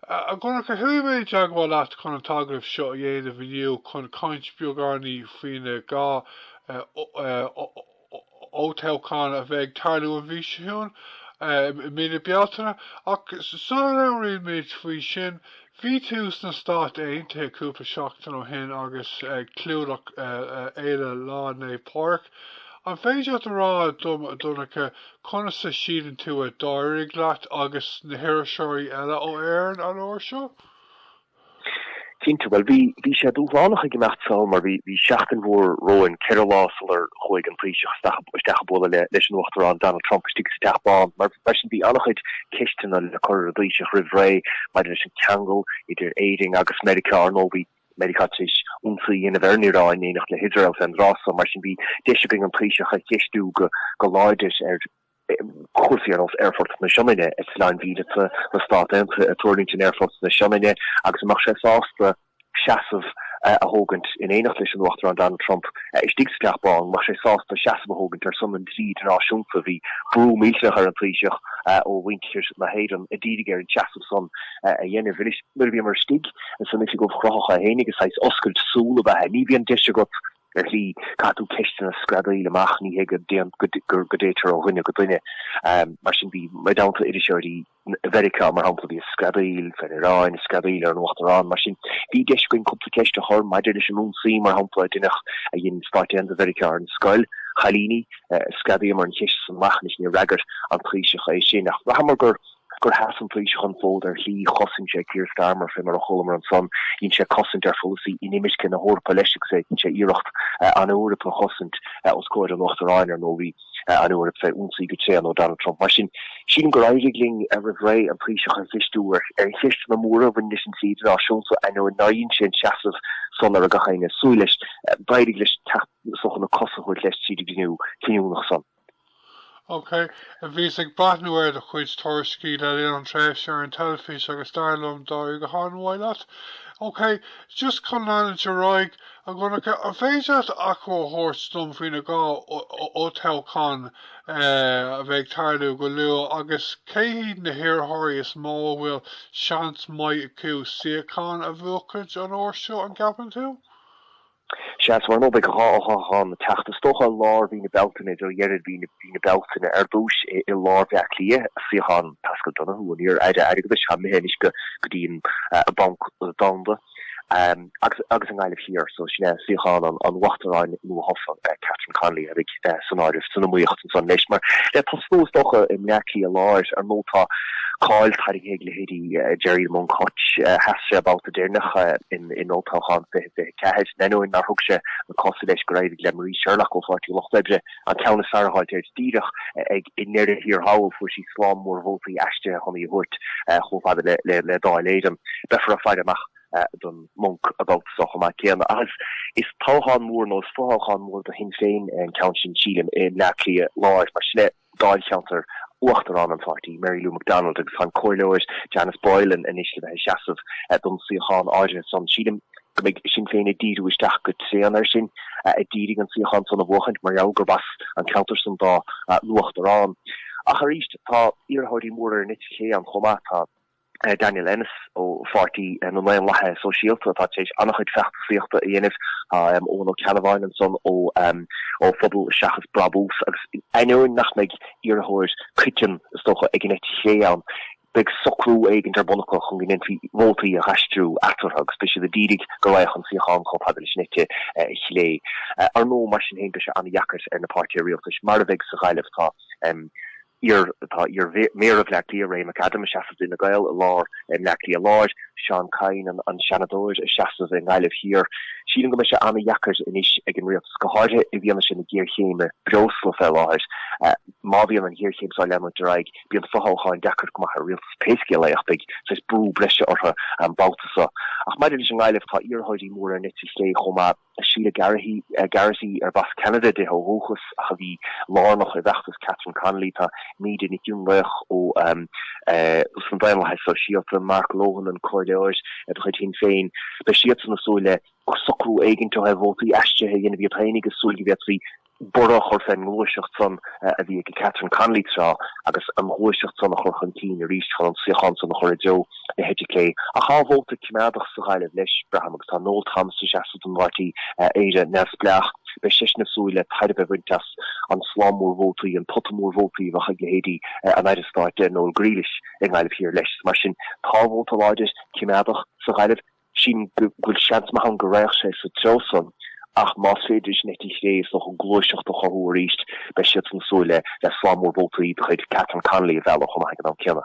A Dhonncha, chuaigh mé i dteagmháil leat chun an t-agallamh seo a dhéanamh inniu chun caint beagáinín faoina dhá fhothoghchán a bheidh ag tarlú an mhí seo chugainn, i mí na Bealtaine? Ach sula labhraímid faoi sin, bhí tú sna Stáit Aontaithe cúpla seachtain ó shin agus ag clúdach fhéile Lá Naomh Pádraig. An féidir leat a rá dom, a Dhonncha, conas a síleann tú a d'éirigh leat agus na hiriseoirí eile ó Éirinn an uair seo? Cinnte, bhuel, bhí, bhí sé dúshlánach ag imeacht sall mar bhí, bhí seachtain mhór romhainn, ceithre lá sular chuaigh an Taoiseach isteach, isteach ag bualadh le, leis an Uachtarán Donald Trump istigh sa Teach Bán. Mar, mar sin bhí an-chuid ceisteanna le cur ar an dTaoiseach roimh ré maidir leis an ceangal idir Éirinn agus Meiriceá, ar ndóigh bhí, Meiriceá tar éis ionsaí a dhéanamh ar an Iaráin in éineacht le hIosrael fén dtráth san. Mar sin bhí deis againn an Taoiseach a cheistiú go láidir ar chúrsaí ar nós Aerfort na Sionainne, eitleáin mhíleata na Stát Aontaithe ag tuirlingt in Aerfort na Sionainne agus an mbeadh sé sásta seasamh a thógaint in éineacht leis an Uachtarán Donald Trump istigh sa Teach Bán, an mbeadh sé sásta seasamh a thógaint ar son an dlí idirnáisiúnta. Bhí brú millteach ar an Taoiseach ó mhuintir na hÉireann a d'iarraidh air an seasamh san a dhéanamh. Anois, nuair a bhíomar istigh san Oifig Ubhchruthach féinig agus saghas oscailt súl ab ea é, ní bhíonn deis agat, ar shlí, caithfidh tú ceisteanna a screadaíl amach, ní hé go dtéitear ó dhuine go duine. Mar sin, bhí mé i dteannta iriseoirí Mheiriceá, mar shampla, a bhí ag screadaíl fén Iaráin, screadaíl ar an Uachtarán, mar sin, bhí deis againn cúpla ceist a chur maidir leis an ionsaí, mar shampla, a deineadh a dhein Stáit Aontaithe Mheiriceá ar an scoil chailíní, screadaíomar an cheist san amach, anois, níor fhreagair an Taoiseach é sin. Ach bhraitheamar gur. gur sheas an Taoiseach an fód ar shlí, chosain sé Keir Starmer fé mar a chualamar ansan, dhein sé cosaint ar pholasaí inimirce na hEorpa leis agus é ag dhein sé iarracht an Eoraip a chosaint os comhair an Uachtaráin, ar ndóigh bhí an Eoraip fé ionsaí go tréan ó Donald Trump. Mar sin, sílim gur éirigh linn roimh ré an Taoiseach a cheistiú ar cheisteanna móra a bhain leis an dlí idirnáisiúnta so ainneoin nár dhein sé an seasamh san a raibh gach éinne ag súil leis, d'éirigh leis teacht saghas na cosa a thabhairt leis tríd an gcruinniú cinniúnach san. OK. Bhíos ag breathnú ar do chuid tuairiscí le linn an tréimhse ar an teilifís agus dar liom d'éirigh go han-mhaith leat. OK. Just chun leanúint ar aghaidh, a Dhonncha, an féidir leat achoimre a thabhairt dom faoi na dhá fhothoghchán a bheidh ag tarlú go luath agus cé hiad na hiarrthóirí is mó a bhfuil seans maith acu suíochán a bhuachaint an uair seo, an gceapann tú? Sea, so ar ndóigh beidh an dá fhothoghchán ag teacht, is dócha, i lár mhí na Bealtaine, i dtreo dheireadh mhí na Bealtaine ar dtús i lár Bhleá Cliath, suíochán Paschal Donohoe, an iar-Aire Airgeadais atá imithe anois go dtí an Banc Domhanda, agus i nGaillimh Thiar, so sin é suíochán an Uachtaráin nua-thofa, Catherine Connolly. san áireamh, san iomaíocht ansan, anois, mar le tosnú, is dócha, i mBleá Cliath Láir, ar ndóigh, tá cáil tarraingthe ag leithéidí Gerry Monk Hutch, a sheas an babhta deireanach in Olltoghchán 2024, d'ainneoin nár thug sé na cosa leis gur éirigh le Marie Sherlock ó Pháirtí an Lucht Oibre, an ceann is fearr a fháilt air díreach i ndeireadh thiar thall, fuair sí slám mór vótaí aistrithe chun í a thabhairt chomh fada le Dáil Éireann. Beifear ag faire amach. don Monk an babhta so chomh maith céanna. Agus is toghchán mór nó is fothoghchán mór do Shinn Féin é an ceann sin, sílim, i mBleá Cliath láir mar sin é Dáilcheantar Uachtarán an pháirtí, Mary Lou McDonald, agus tá an Comhairleoir Janice Boylan anois le bheith ag seasamh don suíochán áirithe san. Sílim go mbeidh Sinn Féin ag díriú isteach go tréan air sin ag d'iarraidh an suíochán san a bhuachaint mar gheall gurb as an ceantar san dá nUachtarán. Ach arís, tá iarrthóirí móra ón eite chlé ann chomh maith. Tá. Daniel Ennis ó Pháirtí na nDaonlathaithe Sóisialta atá tar éis an-chuid feachtasaíochta a dhéanamh, tá Eoghan Ó Ceannabháin ansan ó Phobal Seachas Brabús agus in ainneoin nach mbeidh iarrthóir comhchoiteann, is dócha, ag an eite chlé ann, beidh socrú éigin ar bun acu chun go ndéanfaí vótaí a dh'aistriú eatarthu agus beidh siad ag d'iarraidh go raghadh an suíochán chomh fada leis an eite chlé. Ar ndóigh, mar sin féin, beidh sé an-deacair ar na páirtithe rialtais, mar a bheidh sa Ghaillimh, tá Thiar tá iar-Mhéara Bhleá Cliath Ray McAdam ag seasamh d'Fhine Gael i lár i mBleá Cliath Láir, Seán Kyne an Seanadóir ag seasamh i nGaillimh Thiar. Sílim go mbeidh sé an-deacair anois ag an Rialtas go háirithe i bhfianaise na géarchéime breosla fé láthair. Má bhíonn an ghéarchéim seo ag leanúint ar aghaidh bíonn fothoghcháin deacair go maith ar Rialtas pé scéal é ach beidh saghas brú breise orthu an babhta seo. Ach maidir leis an nGaillimh tá iarrthóirí móra ón eite chlé chomh maith. Sheila Garrity, arb as Ceanada di ó dhúchas ach a bhí lárnach i bhfeachtas Catherine Connolly, tá Míde Nic Fhionnlaoich ós na Daonlathaithe Sóisialta, Mark Lohan, an Comhairleoir de chuid Shinn Féin, beidh siadsan ag súil le socrú éigint ar vótaí aistrithe a dhéanamh iad féinig ag súil go bhféadfaí borradh a chur fén ngluaiseacht san a bhí ag Catherine Connolly tráth agus an ghluaiseacht san a chur chun cinn arís chun an suíochán san a chur i dtreo na heite clé. Ach tá an vóta coimeádach sa Ghaillimh leis, braithim, agus tá Noel Thomas ag seasamh don bpáirtí Éire Neamhspleách. Beidh seisean ag súil le tairbhe a bhaint as an slám mór vótaí, an pota mór vótaí a bheadh ag leithéidí an Aire Stáit Noel Grealish i nGaillimh Thiar leis. Mar sin, tá vóta láidir, coimeádach sa Ghaillimh. Sílim go bhfuil seans maith ann go raghadh sé sa treo san, ach más féidir leis an eite chlé is dócha an gluaiseacht a chothú arís, beidh siadsan ag súil le le slám mór vótaí de chuid Catherine Connolly a mhealladh chomh maith ag an am céanna.